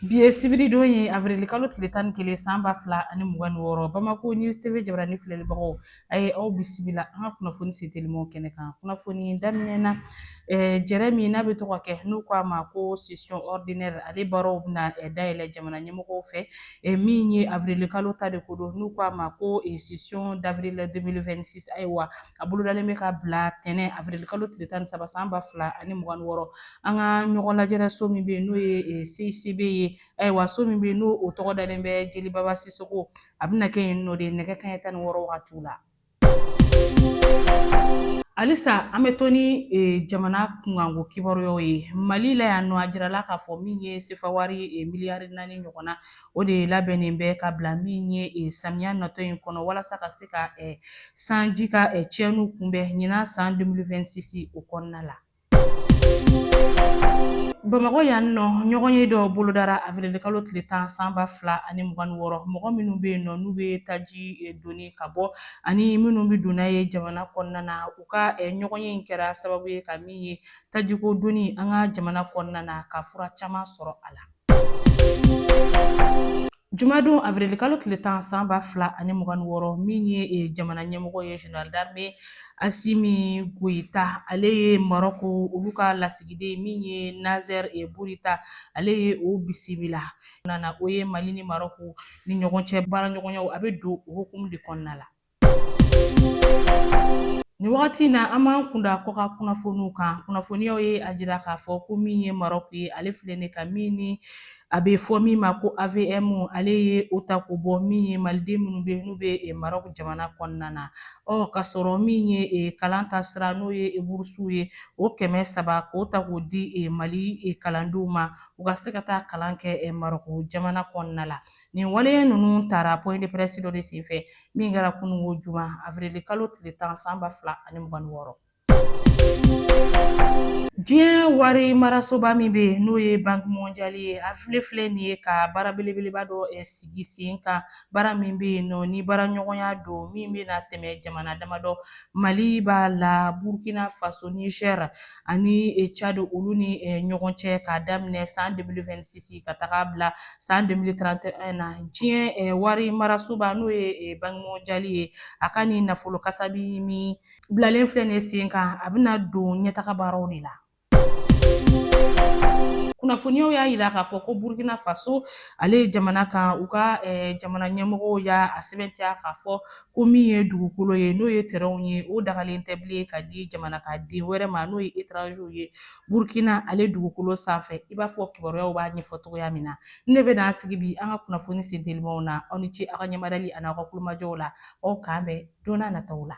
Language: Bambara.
Bi ye sibiridon ye avril-kalo tile tan ni kelen san ba fila ani mugan ni wɔɔrɔ Bamako News TV jabarani filɛlibagaw a ye aw bisimila an ka kunnafoni setelimaw kɛnɛ kan kunnafoni daminɛ na eh, jɛrɛ min n'a bɛ to ka kɛ n'u ko a ma ko session ordinaire ale baaraw bɛna eh, dayɛlɛ jamana ɲɛmɔgɔw fɛ eh, min ye avril-kalo ta de ko don n'u ko a ma ko eh, session d'avril 2026 ayiwa a bolodalen bɛ ka bila tɛnɛ avirili kalo tile tan ni saba san ba fila ani mugan ni wɔɔrɔ an ka ɲɔgɔn lajɛrɛ so min bɛ yen n'o ye eh, CICB ye ayiwa so min bɛ yen n'o o tɔgɔ dalen bɛ jeli baba sisoko a bɛna kɛ yen nɔ de nɛgɛ kanɲɛ tan ni wɔɔrɔ wagatiw la halisa an bɛ to ni eh, jamana kunkanko kibaruyaw ye mali la yan nɔ a jirala k'a fɔ min ye sefawari eh, miliyari naani ɲɔgɔnna O de labɛnnen bɛ ka bila min ye eh, samiya natɔ in kɔnɔ walasa ka se ka eh, sanji ka eh, tiɲɛniw kunbɛn ɲinan san 2026 o kɔnɔna la. Bamakɔ yan nɔ ɲɔgɔnye dɔ bolodara avirilikalo tile tan san ba fila ani mugan ni wɔɔrɔ mɔgɔ minnu bɛ yen nɔ n'u bɛ taji eh, doni ka bɔ ani minnu bɛ don n'a ye jamana kɔnɔna na u ka eh, ɲɔgɔnye in kɛra sababu ye ka min ye tajiko doni an ka jamana kɔnɔna na ka fura caman sɔrɔ a la. Jumadon avril kalo tile tan san ba fila ani mugan ni wɔɔrɔ min ye eh, jamana ɲɛmɔgɔ ye général d'armée asimi goyita ale ye marɔko olu ka lasigiden min ye naser eh, burita ale ye o bisimila nana o ye mali ni marɔko ni ɲɔgɔn cɛ baaraɲɔgɔnyaw a bɛ don o hukumu de kɔnɔna la Nin wagati in na an b'an kun da kɔkan kunnafoniw kan kunnafoniyaw ye a jira k'a fɔ ko min ye marɔku ye ale filɛ nin ye ka min ni a bɛ fɔ min ma ko avm ale ye o ta k'o bɔ min ye maliden minnu bɛ n'u bɛ eh, marɔku jamana kɔnɔna na ɔ ka sɔrɔ min ye eh, kalan ta sira n'o ye eh, burusiw ye o kɛmɛ saba k'o ta k'o di mali kalandenw ma u ka se ka taa kalan kɛ marɔku jamana kɔnɔna la Nin waleya ninnu tara point de presse dɔ de senfɛ min kɛra kunun o juma avril kalo tile tan san ba fila ani mugan ni wɔɔrɔ. Diɲɛ wari marasoba min bɛ n'o ye Banki Mondiale ye, a filɛ filɛ nin ye ka baara belebeleba dɔ eh, sigi sen kan, baara min bɛ yen nɔ ni baaraɲɔgɔnya don min bɛna tɛmɛ jamana damadɔ, Mali b'a la, Burkina Faso, Niger, ani e, Tchad olu ni e, ɲɔgɔn cɛ k'a daminɛ san 2026 ka taga bila san 2031 na diɲɛ e, wari marasoba n'o ye banki mondiale ye a ka nin nafolo kasabi min bilalen filɛ nin ye sen kan a bɛna don ɲɛtaga baaraw de la kunnafoniyaw y'a jira k'a fɔ ko burkina faso ale jamana kan u ka jamana ɲɛmɔgɔw y'a sɛmɛntiya k'a fɔ ko min ye dugukolo ye n'o ye tɛrɛnw ye o dagalen tɛ bilen ka di jamana ka den wɛrɛ ma n'o ye etranziw ye burukina ale dugukolo sanfɛ i b'a fɔ kibaruyaw b'a ɲɛfɔ cogoya min na n ne bɛna an sigi bi an ka kunnafoni sentelimaw na aw ni ce aw ka ɲɛmarali ani aw ka kulomajɔw la aw k'an bɛn don n'a nataw la